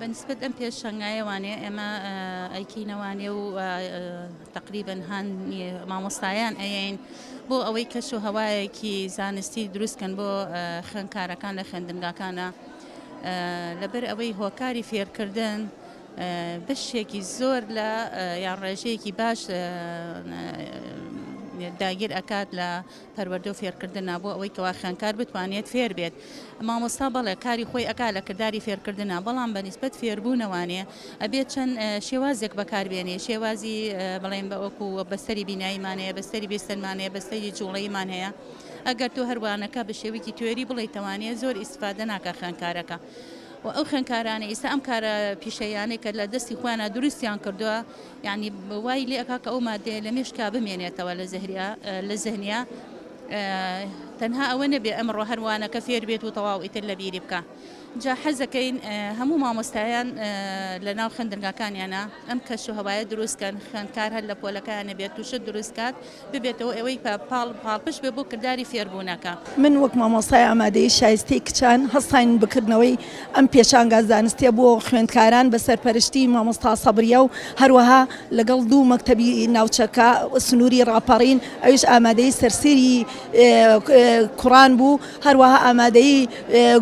بەنسبەت ئەم پێشەنگایە وانێ ئێمە ئەیکینەوانێ و تقریبن هاان مامۆستایان ئەین بۆ ئەوەی کەش و هەوایەکی زانستی دروستکەن بۆ خوێندکارەکان لە خوێندنگاکانە لەبەر ئەوەی هۆکاری فێرکردن بەشێکی زۆر لە یان ڕێژەیەکی باش داگیر ئەکات لە پەروەردە و فێرکردنا بۆ ئەوەی کەوا خوێنکار بتوانێت فێر بێت مامۆستا بەڵێ کاری خۆی ئەک لە کردداری فێرکردنا بەڵام بە نسبەت فێربوونەوانێ ئەبێت چەند شێوازێک بەکاربێنێ شێوازی بڵێن بە ئۆکو بەستری بیناییمانەیە بەستری بێستەنمانەیە بەستری جوڵەیمان هەیە ئەگەر تۆ هەر وانەکە بە شێوەیەکی تیۆری بڵێیتەوانێ زۆر ئیستفادە ناکا خوێندکارەکە و ئەو خوێندکارانە ئیستا ئەم کارە پیشەیانەی کە لە دەستی خۆیانە دروستیان کردووە یعنی وای لێ ئەکا کە ئەو مادەیە لە مێشکا بمێنێتەوە لە زەهریا لە زەهنیا تەنها ئەوە نەبێ ئەمڕۆ هەروانەکە فێر بێت و تەواو ئیتر لە بیری بکە جا حەزەکەین هەموو مامۆستایان لە ناو خوێندنگاکانیانا ئەم کەش و هەوایە دروست کەن خوێندکار هەر لە پۆلەکەیانە بێت و شت دروست کات ببێتەوە ئەوەی پە پاڵ پاڵپشت بێ بۆ کرداری فێربوونەکە. من وەک مامۆستای ئامادەیی شایستەی کچان هەستاین بکردنەوەی ئەم پێشانگا زانستیە بۆ خوێندکاران بە سەرپەرشتی مامۆستا سەبریە و هەروەها لەگەڵ دوو مەکتەبی ناوچەکە سنووری ڕاپەڕین ئەویش ئامادەی سەرسیری کوڕان بوو. هەروەها ئامادەی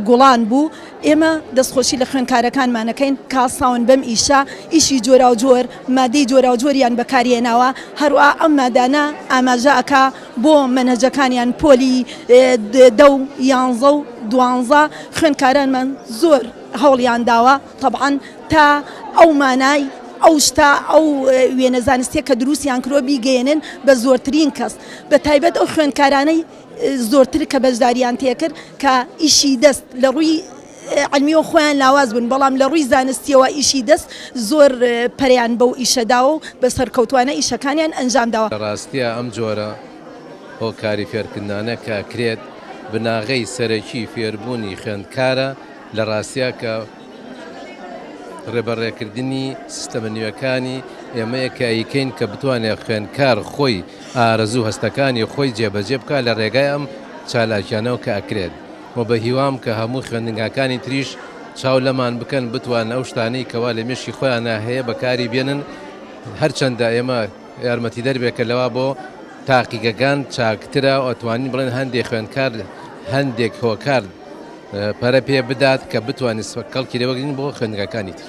گوڵان بوو، ئێمە دەستخۆشی لە خوێندکارەکانمانەکەین کەهەستاون بەم ئیشە، ئیشی جۆراوجۆر مادەی جۆراوجۆریان بەکارهێناوە، هەروەها ئەم مادانە ئاماژە ئەکا بۆ مەنهەجەکانیان پۆلی دە و یانزە و دوانزە، خوێندکارانمان زۆر هەوڵیانداوە تەبعەن تا ئەو مانای ئەو شتە ئەو وێنە زانستیە کە دروستیان کردوە بیگەیەنن بە زۆرترین کەس بەتایبەت ئەو خوێندکارانەی. زۆرتر کە بەشداریان تێکرد کە ئیشی دەست لە ڕووی علمیەوە خۆیان لاواز بن بەڵام لە ڕووی زانستیەوە ئیشی دەست زۆر پەریان بەو ئیشەداوە و بە سەرکەوتوانە ئیشەکانیان ئەنجام داوە. لە ڕاستیا ئەم جۆرە هۆکاری فێرکردنانە کە ئەکرێت بناغەی سەرەکی فێربوونی خوێندکارە لە ڕاستیا کە. ڕێبەڕێکردنی سیستەمە نوێکانی ئێمە یەکاییکەین کە بتوانێت خوێندکار خۆی ئارەزوو هەستەکانی خۆی جێبەجێ بکات لە ڕێگای ئەم چالاکیانەوە کە ئەکرێت و بە هیوام کە هەموو خوێندنگاکانی تریش چاو لەمان بکەن بتوانن ئەو شتانەی کەوا لە مێشکی خۆیانا هەیە بەکاری بێنن هەرچەندە ئێمە یارمەتیدەر بێت کە لەوا بۆ تاقیگەکان چاکترە و ئەتوانین بڵێن هەندێک خوێندکار هەندێک هۆکار پەرە پێ بدات کە بتوانێت کەڵکی لێ وەرگرین بۆ خوێندنگاکانی تر.